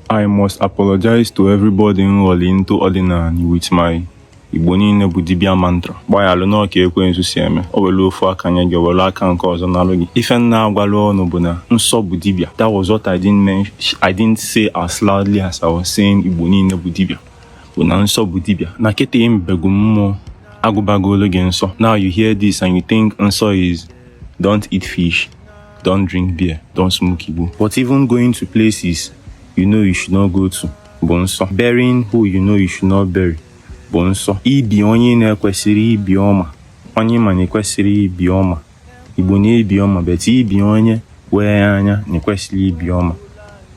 I must apologize to everybody m ghọlụ into ọdịnanị with my Igbo niile bụ dibia mantra gbaghaalụ n'ọ ka ekwensu si eme o were ofu aka nye gị were aka nke ọzọ nalụ gị ife m na-agwarọ unu bụ na nsọ bụ dibia that was what I didn't mention I didn't say as loudly as I was saying Igbo niile bụ dibia bụ na nsọ bụ dibia na kịta mbegu mmụọ agụbagolụ gị nsọ now you hear this and you think nsọ is don't eat fish don't drink beer, don't smoke Igbo. But even going to places you know you should not go to bụ nsọ. Burying who you know you should not bury bụ nsọ. Ibi onye na-ekwesirọ ibi ọma, onye ma na-ekwesirọ ibi ọma. Igbo na-ebi ọma, but ibi onye wee anya na-ekwesirọ ibi ọma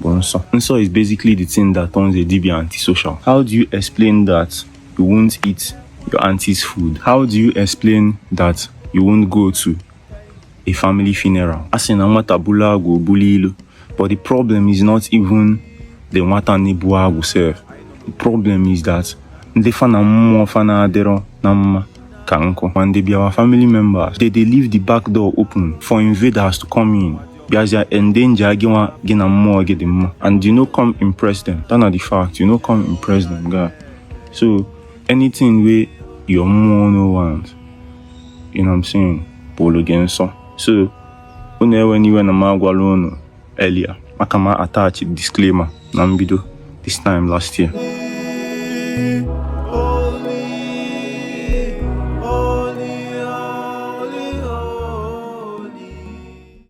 bụ nsọ. Nsọ is basically the thing that turns a dibia antisocial. How do you explain that you won't eat your auntie's food? How do you explain that you won't go to a family funeral. A sị na nwata bulu agwụ o bulu ilu. But the problem is not even the nwata na-ebu agwụ sef. The problem is that ndị fa na mmụọ fa na-adịrọ na mma ka nkụ wey dey be our family members they dey leave the back door open for invaders to come in bịazịa endanger gị nwa gị na mmụọ gị dị mma and you no come impress them that na the fact you no come impress them guy so anything wey your mmụọ no want you know I'm saying bụụrụ gị nsọ so unu ewena iwe na m agwarọ unu earlier maka m attach disclaimer na mbido this time last year